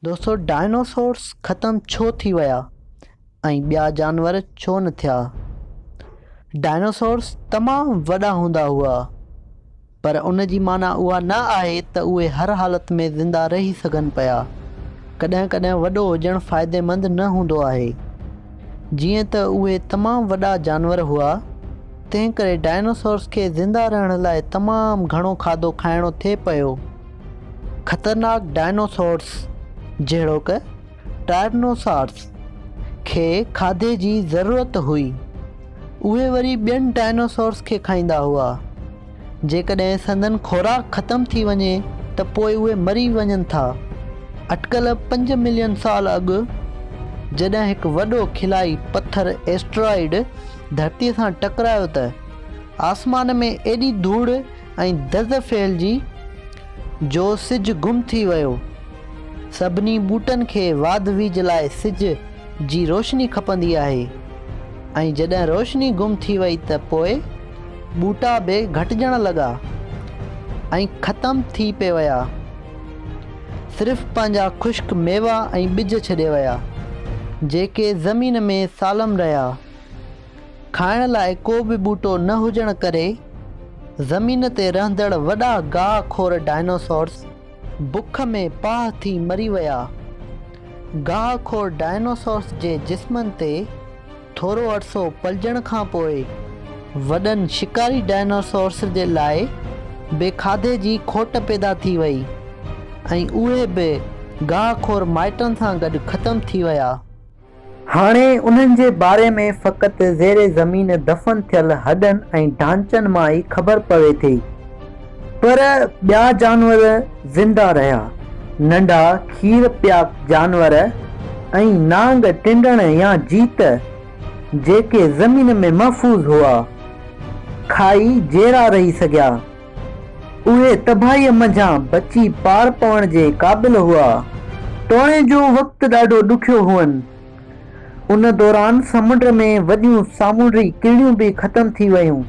دوستو ڊائناسورس ختم ڇو ٿي ويا ۽ ٻيا جانور ڇو نه ٿيا؟ ڊائناسورس تمام وڏا هوندا هئا پر ان جي معنيٰ اها نه آهي ته اهي هر حالت ۾ زنده رهي سگهن پيا. ڪڏهن ڪڏهن وڏو هجڻ فائديمند نه هوندو آهي. جيئن ته اهي تمام وڏا جانور هئا تنهنڪري ڊائناسورس کي زنده رهڻ لاء تمام گهڻو کاڌو کائڻو ٿي پيو. خطرناڪ ڊائنوسارز جهڙوڪ ٽائرنوسارز کي کاڌي جي ضرورت هئي. اهي وري ٻين ڊائنوسارز کي کائيندا هئا. جيڪڏهن سندن خوراڪ ختم ٿي وڃي ته پوء اهي مري وڃن ٿا. اٽڪل پنج ملين سال اڳ جڏهن هڪ وڏو خلائي پٿر ايسٽرائيڊ ڌرتي سان ٽڪرايو ته آسمان ۾ ايڏي ڌوڙ ۽ دز ڦهلجي جو سج گم ٿي ويو. سڀني ٻوٽن کي واڌ ويجهه لاء سج جي روشني کپندي آهي ۽ جڏهن روشني گم ٿي وئي ته پوء ٻوٽا به گهٽجڻ لڳا ۽ ختم ٿي پئي ويا. صرف پنهنجا خشڪ ميوا ۽ ٻج ڇڏي ويا، جيڪي زمين ۾ سالم رهيا. کائڻ لاء ڪو به ٻوٽو نه هجڻ ڪري زمين تي رهندڙ وڏا گاهه خور ڊائناسورس بک ۾ پاهه ٿي مري ويا. گاهه خور ڊائناسورس جي جسمن تي ٿورو عرصو پلجڻ کان پوء وڏن شڪاري ڊائناسورس جي لاء به کاڌي جي کوٽ پيدا ٿي وئي ۽ اهي به گاهه خور مائٽن سان گڏ ختم ٿي ويا. هاڻي انهن جي باري ۾ فقط زير زمين دفن ٿيل هڏن ۽ ڍانچن مان ئي خبر پوي ٿي. پر ٻيا جانور زنده رهيا. ننڍا کير پيا جانور ۽ نانگ، ٽنڊڻ يا جيت، جيڪي زمين ۾ محفوظ هئا، کائي جيئرا رهي سگهيا. اهي تباهيء منجهان بچي پار پوڻ جي قابل هئا. توڻي جو وقت ڏاڍو ڏکيو هئن. ان دوران سمنڊ ۾ وڏيون سامونڊي ڪيڙيون به ختم ٿي ويون،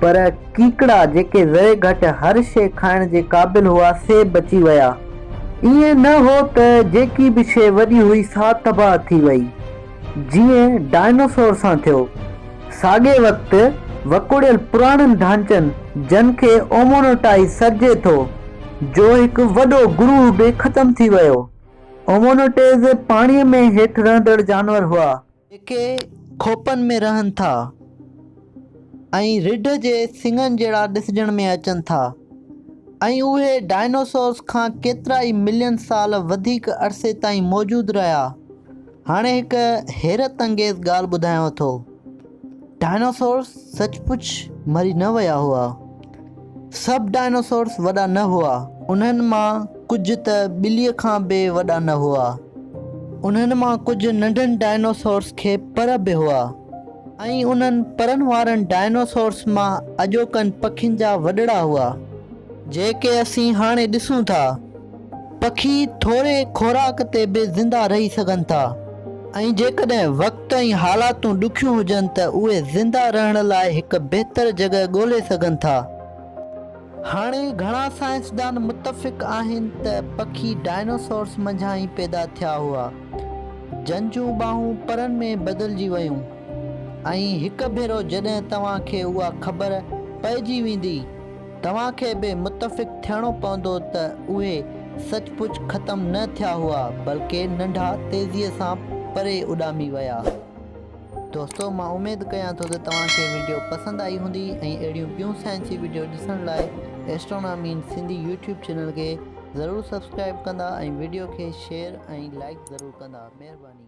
پر ڪيڪڙا جيڪي ذري گهٽ هر شيء کائڻ جي قابل هئا، سي بچي ويا. ائين نه هو ته جيڪي به شيء وڏي هئي سا تباهه ٿي وئي. جيئن ڊائناسور سان ٿيو. ساڳئي وقت وڪوڙيل پراڻن ڍانچن جن کي اومونوٽائي سڏجي ٿو، جو هڪ وڏو گروهه به ختم ٿي ويو. اومونوٽيز پاڻيء ۾ هيٺ رهندڙ جانور هئا. جيڪي کوپن ۾ رهن ٿا ۽ رڍ جي سڱن جهڙا ڏسجڻ ۾ اچن ٿا ۽ اهي ڊائناسورس کان ڪيترائي ملين سال وڌيڪ عرصي تائين موجود رهيا. هاڻي هڪ حيرت انگيز ڳالهه ٻڌايانو ٿو. ڊائناسورس سچ پچ مري نه ويا هئا. سڀ ڊائناسورس وڏا نه هئا. انهن مان ڪجهه ته ٻليء کان به وڏا نه هئا. انهن مان ڪجهه ننڍن ڊائناسورس کي پر به هئا ۽ انهن پرن وارن ڊائناسورس مان اڄوڪن پکين جا وڏڙا هئا. جيڪي اسين هاڻي ڏسون ٿا. پکي ٿوري خوراڪ تي به زنده رهي سگهن ٿا ۽ جيڪڏهن وقت ۽ حالاتون ڏکيون هجن ته اهي زنده رهڻ لاء هڪ بهتر جڳهه ڳولي سگهن ٿا. هاڻي گهڻا سائنسدان متفق آهن ته پکي ڊائناسورس منجهان ئي پيدا ٿيا هئا، جن جون ٻانهون پرن ۾ بدلجي ويون ۽ هڪ ڀيرو جڏهن توهان کي اها خبر پئجي ويندي، توهان کي به متفق ٿيڻو پوندو ته اهي سچ پچ ختم نه ٿيا هئا بلڪه ننڍا تيزيء سان پري اڏامي ويا. دوستو مان اميد ڪيان ٿو ته توهان کي وڊيو پسند آئي هوندي ۽ اهڙيون ٻيون سائنسي وڊيو ڏسڻ لاء Astronomy in Sindhi YouTube channel کي ضرور سبسڪرائب ڪندا ۽ وڊيو کي شيئر ۽ لائيڪ ضرور ڪندا. مهرباني.